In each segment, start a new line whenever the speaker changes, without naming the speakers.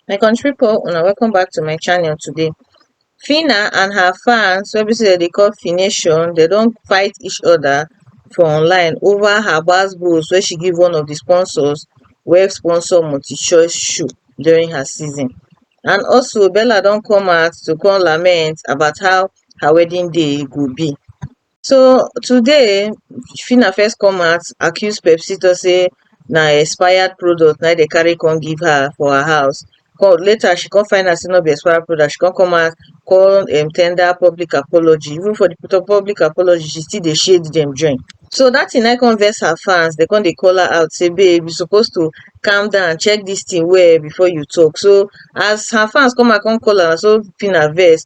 my country people una welcome back to my channel today Fina and her fans wey be say dem dey call Fination dem don fight each other for online over her gbas gbos wey she give one of the sponsors wey sponsor multi-choice shoe during her season and also Bella don come out to come lament about how her wedding day go be So today Phyna first come out accuse Pepsito say na expired product na dey carry come give her for her house. Come later she come find out say no be expired product, she come come out come um tender public apology. Even for the public apology, she still dey shade dem join. So that thing na come vex her fans, they come dey call her out say babe you suppose to calm down, check this thing well before you talk. So as her fans come out come call her, so Phyna vex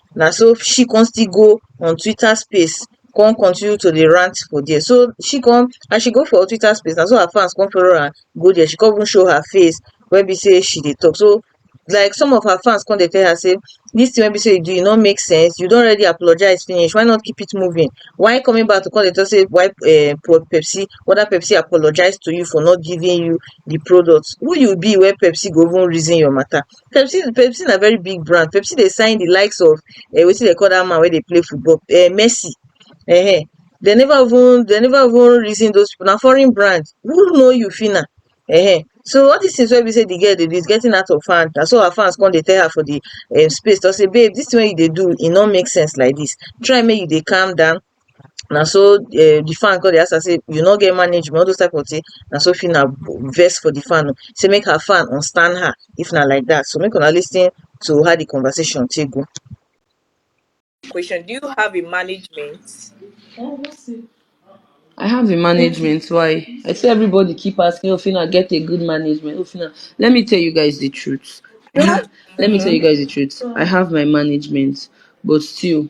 na so she come still go on twitter space come continue to dey rant for there so she come as she go for twitter space na so her fans come follow am go there she come even show her face wey be sey she dey talk so like some of her fans come dey tell her sey dis thing wey be sey you do e no make sense you don already apologize finish why not keep it moving why coming back to come dey talk sey why um pro Pepsi whether Pepsi apologize to you for not giving you the product who you be wey Pepsi go even reason your matter Pepsi Pepsi na very big brand. Pepsi dey sign the likes of um wetin dem call that man wey dey play football um Messi um dem never even dem never even reason those people na foreign brand who know you Phyna um so all these things wey be say the girl dey do is getting out of hand na so her fans come dey tell her for the um space talk say babe this thing wey you dey do e no make sense like this try make you dey calm down na so um the fan come dey ask am sey you no get management all those type of thing na so Phyna vex for the fan o sey make her fan unstand her if na like that so make una lis ten to how the conversation take go. Question, do you have a management? I have a management why? I see everybody keep asking oh Phyna get a good management oh Phyna let me tell you guys the truth I have let me tell you guys the truth I have my management but still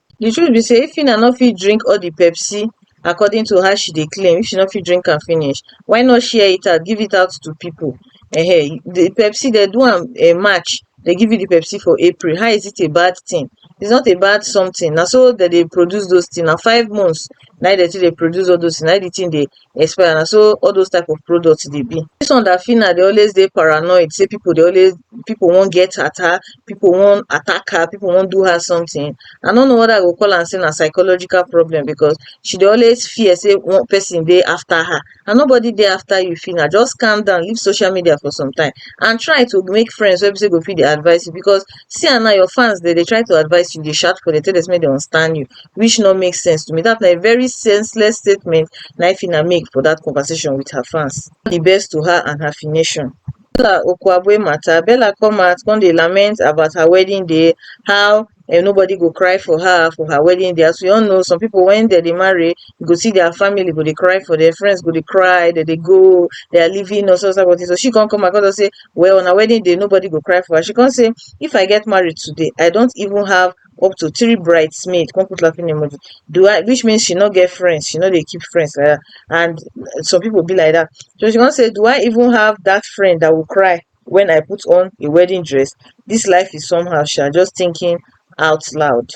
the truth be sey if Phyna no fit drink all the Pepsi according to how she dey claim if she no fit drink am finish why not share it out give it out to people um the Pepsi they do am um match they give you the Pepsi for April how is it a bad thing it's not a bad something na so they dey produce those thing na five months na im they take dey produce all those thing na im the thing dey expire na so all those type of product dey be. Dis one dat Fina dey always dey paranoid sey pipu dey always pipu wan get attack, pipu wan attack her, pipu wan do her something, I no know whether I go call am sey na psychological problem because she dey always fear sey one person dey after her and nobody dey after you Fina just calm down leave social media for some time and try to make friends wey be sey go fit dey advice you because see am now your fans dem dey try to advice you dey shout for dem tell dem sey make dem understand you which no make sense to me. That na a very senseless statement na Fina make for that conversation with her fans. The best to her and her nation. Bella Okwabwe matter, Bella come out come dey lament about her wedding day, how and nobody go cry for her for her wedding day as we all know some people when they dey marry you go see their family go dey cry for their friends go dey cry they dey go they are leaving or so so so she come come across and say well on her wedding day nobody go cry for her she come say if i get married today i don't even have up to three bridesmaid come put laughing emoji do I which means she no get friends she no dey keep friends like that and some people be like that so she come say do I even have that friend that will cry when I put on a wedding dress this life is somehow sha just thinking out loud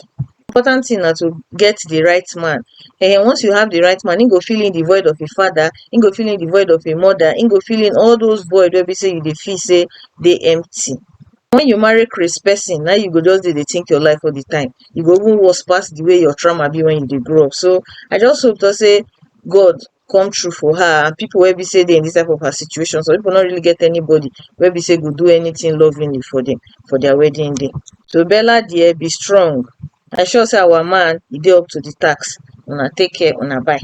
important thing na to get the right man and um once you have the right man he go fill in the void of a father he go fill in the void of a mother he go fill in all those void wey be say you dey feel say dey empty When you marry craze person, now you go just dey think your life all the time. E go even worse pass the way your trauma be when you dey grow up. So I just hope to say God come true for her and people wey be say dey in this type of her situation. Some people not really get anybody wey be say go do anything lovingly for them for their wedding day. So Bella dear, be strong. I sure say our man he dey up to the tax. Una take care, una bye.